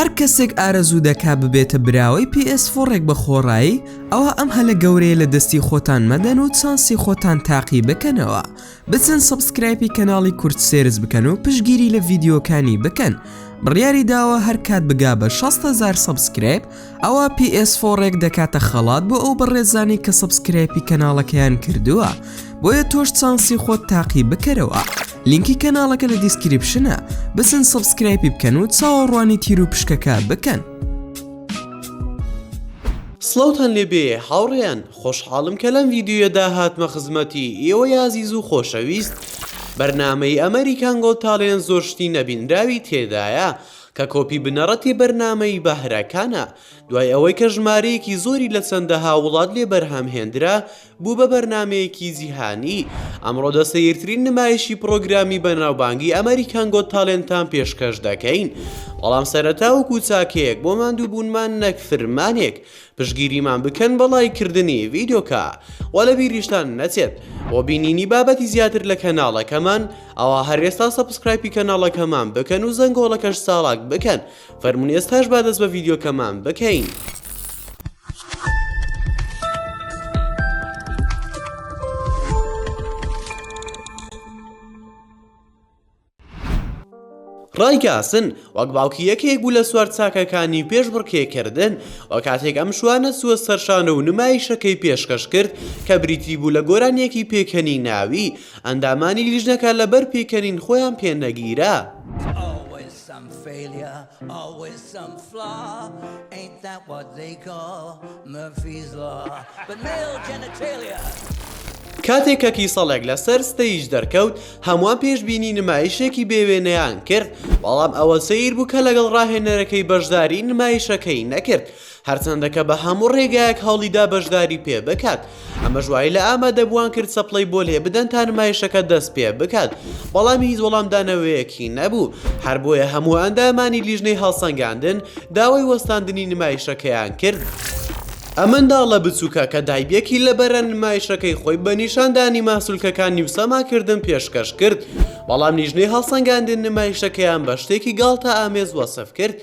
هەر کەسێک ئارەزوو دەکا ببێتە براوەی PS4ێک بە خۆڕایی ئەوە ئەم هەلە گەورەیە لە دەستی خۆتان مەدەن و چانسی خۆتان تاقی بکەنەوە بچن سبسکرایپی کەناڵی کورد سێرز بکەن و پشگیری لە ڤیددیوکانی بکەن بڕیاری داوە هەر کات بگا بە 16هزار سبسکرایب ئەوە PS4ێک دەکاتە خەڵات بۆ ئەو بەڕێزانی کە سبسکرایپی کەناڵەکەیان کردووە بۆیە تۆش چانسی خۆت تاقی بکەرەوە لینکی کەناڵەکە لە دیسکریپشنە بزن سبسکرایپی بکەن و چاوەڕوانی تیر و پشکەکە بکەن. سڵاوتان لێبێ هاوڕێیان خۆشحاڵم کە لەم ڤیددیویەدا هاتمە خزمەتی ئێوە یازیز و خۆشەویست بەرنمەی ئەمریکان گۆ تاالێن زۆر شتی نەبینراوی تێدایە کە کۆپی بنەڕەتی بەرنمەی بەهرەکانە دوای ئەوەی کە ژمارەیەکی زۆری لە چەندەها وڵات لێ بەرهەم هێندرا بوو بە بەرنامەیەکی جیهانی، ئەمڕۆ دە سەیرترین نمایشی پڕۆگرامی بەناوبانگی ئەمەریکان گۆت تالێنتان پێشکەش دەکەین، بەڵام سەرەتا وەکو چاکەیەک بۆ ماندووبوونمان نەک فرمانێک پشتگیریمان بکەن بە ڵایک کردنی ڤیدۆکە وە لە بیریشتان نەچێت بۆ بینینی بابەتی زیاتر لە کەناڵەکەمان ئەوا هەر ئێستا سەبسکرایپی کەناڵەکەمان بکەن و زەنگۆڵەکەش چاڵاک بکەن فەرموون ئێستاش با دەست بە ڤیدیۆکەمان بکەین. ڕایگاسن وەک باوکی یەکێک بوو لە سوار چاکەکانی پێش بڕکێکردن و کاتێک ئەم شوانە سووە سەرشانە و نمایشەکەی پێشکەش کرد کە بریتی بوو لە گۆرانیەکی پێکەنی ناوی ئەندامانی لیژنەکە لەبەر پێکەنین خۆیان پێنەگیرە. سم فەیلیا ئاڵوەیس سم فلا ئەینت دات وات زەی کا مەفیز لا بەت مەیڵ جەنەتەیلیا. کاتێک کە کیسەڵێک لەسەر ستەیج دەرکەوت هەمووان پێشبینی نمایشێکی بێوێنەیان کرد بەڵام ئەوە سەیر بوو کە لەگەڵ ڕاهێنەرەکەی بەشداری نمایشەکەی نەکرد هەرچەندە کە بە هەموو ڕێگایەک هەوڵیدا بەشداری پێ بکات ئەمەش وای لە ئامادەبووان کرد چەپڵەی بۆ لێ بدەن تا نمایشەکە دەست پێ بکات بەڵام هیچ وەڵامدانەوەیەکی نەبوو هەر بۆیە هەموو ئەندامانی لیژنەی هەڵسەنگاندن داوای وەستاندنی نمایشەکەیان کرد. ئە منداڵە بچووکە کە دایبێکی لە بەرە نمایشەکەی خۆی بە نیشاندانی ماسولکەکانی و سەماکردن پێشکەش کرد بەڵام لیژنەی هەڵسەنگاندن نمایشەکەیان بە شتێکی گاڵتە ئامێز وەسف کرد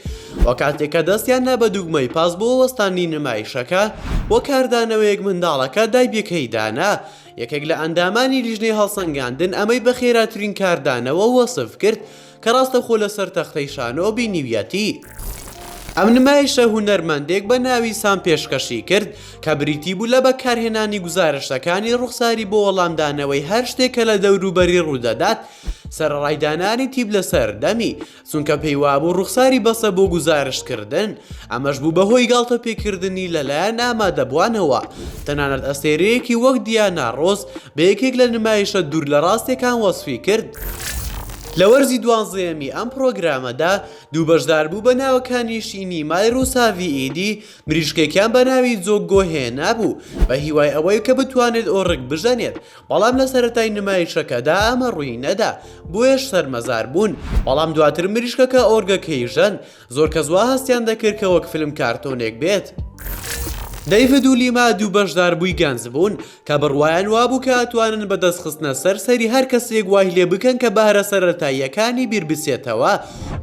و کاتێک کە دەستیان نا بە دووگمەی پاس بۆ وەستاندنی نمایشەکە و کاردانەوەیەک منداڵەکە دایبەکەی دانا، یەکێک لە ئەندامانی لیژنەی هەڵسەنگاندن ئەمەی بە خێراترین کاردانەوە وەسف کرد کە ڕاستەخۆ لەسەر تەختەی شانۆ بینیویەتی. ئەم نمایشە هونەرمەندێک بە ناوی سام پێشکەشی کرد کە بریتی بوو لە بەکارهێنانی گوزارشتەکانی ڕوخساری بۆ وەڵامدانەوەی هەر شتێک کە لە دەوروبەری ڕوودەدات، سەرەڕای دانانی تیپ لەسەر دەمی، چونکە پێی وابوو ڕوخساری بەسە بۆ گوزارشتکردن، ئەمەش بوو بەهۆی گاڵتەپێکردنی لەلایەن ئامادەبووانەوە، تەنانەت ئەستێرەیەکی وەک دیانا ڕۆس بە یەکێک لە نمایشە دوور لە ڕاستیەکان وەسفی کرد. لە وەرزی دوانزەیەمی ئەم پڕۆگرامەدا دوو بەشدار بوو بە ناوەکانی شینی مای ڕوساڤی ئیدی مریشکێکیان بە ناوی جۆگۆ هێنابوو بە هیوای ئەوەی کە بتوانێت ئۆرک بژەنێت بەڵام لە سەرەتای نمایشەکەدا ئەمە ڕووی نەدا بۆیەش شەرمەزار بوون بەڵام دواتر مریشکەکە ئۆرگەکەی ژەند زۆر کەس وا هەستیان دەکرد کە وەک فلم کارتۆنێک بێت. دەیڤد و لیما دوو بەشداربووی گەنج بوون کە بڕوایان وابوو کە ئەتوانن بە دەست خستنە سەر سەری هەر کەسێک وای لێ بکەن کە بەهرە سەرەتاییەکانی بیر بچێتەوە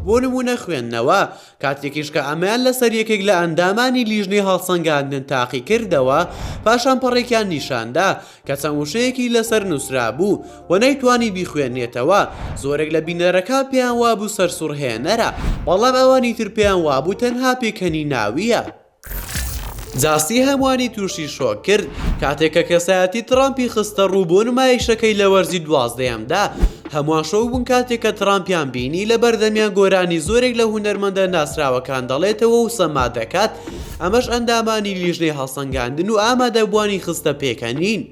بۆ نموونە خوێندنەوە کاتێکیش کە ئەمەیان لەسەر یەکێک لە ئەندامانی لیژنەی هەڵسەنگاندن تاقی کردەوە پاشان پەڕێکیان نیشاندا کە چەند وشەیەکی لەسەر نووسرابوو و نەیتوانی بیخوێنێتەوە، زۆرێک لە بینەرەکان پێیان وابوو سەرسوڕهێنەرە، بەڵام ئەوانی تر پێیان وابوو تەنها پێکەنیناوییە. جاستی هەمووانی تووشی شۆک کرد کاتێک کە کەسایەتی ترامپی خستەڕوو بۆ نمایشەکەی لە وەرزی دوازدەیەمدا، هەمووان شۆک بوون کاتێک کە ترامپیان بینی لە بەردەمیان گۆرانی زۆرێک لە هونەرمەندە ناسراوەکان دەڵێتەوە و سەما دەکات، ئەمەش ئەندامانی لیژنەی هەڵسەنگاندن و ئامادەبووانی خستە پێکەنین.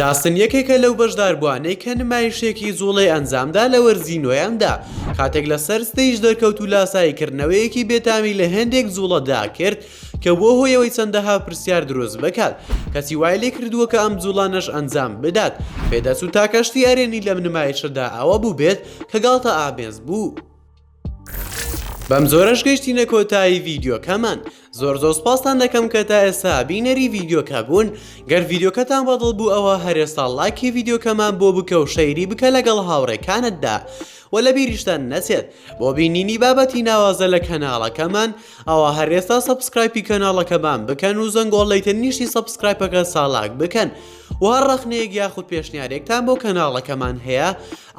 داستن یەکێکە لەو بەشداربووانەی کە نمایشێکی جوڵەی ئەنجامدا لە وەرزی نۆیەمدا، کاتێک لەسەر ستەیج دەرکەوت و لاساییکردنەوەیەکی بێتامی لە هێندێک جوڵەدا کرد کە بووە هۆی ئەوەی چەندەها پرسیار دروست بکات، کەچی وای لێکردووە کە ئەم جوڵانەش ئەنجام بدات. پێدەچوو تاکە شتی ئەرێنی لەم نمایشەدا ئەوە بووبێت کە گاڵتە ئامێز بوو. بەم جۆرەش گەشتینە کۆتایی ڤیدیۆکەمان زۆر زۆر سپاستان دەکەم کە تا ئێستا بینەری ڤیدیۆکە بوون گەر ڤیدیۆکەتان بەدڵ بوو ئەوە هەرێستا ڵاکی ڤیدیۆکەمان بۆ بکە و شەیری بکە لەگەڵ هاوڕێکانتدا و لە بیریشتان نەچێت بۆ بینینی بابەتی ناوازە لە کەناڵەکەمان ئەوە هەرێستا سەبسکرایپی کەناڵەکەمان بکەن و زەنگۆڵ لەیتر نیشتی سەبسکرایپەکە ساڵاک بکەن و هەر ڕەخنەیەک یاخود پێشنیارێکتان بۆ کەناڵەکەمان هەیە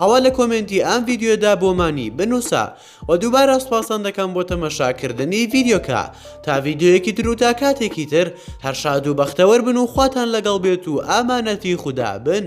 ئەوا لە کۆمێنتی ئەم ڤیدیۆدا بۆمانی بنووسە وە دووبارە سوپاستان دەکەم بۆ تەمەشاکردنی ڤیدیۆکە تا ڤیدیۆیەکی تر و تا کاتێکی تر هەر شاد و بەختەوەر بن و خواتان لەگەڵ بێت و ئامانەتی خودا بن.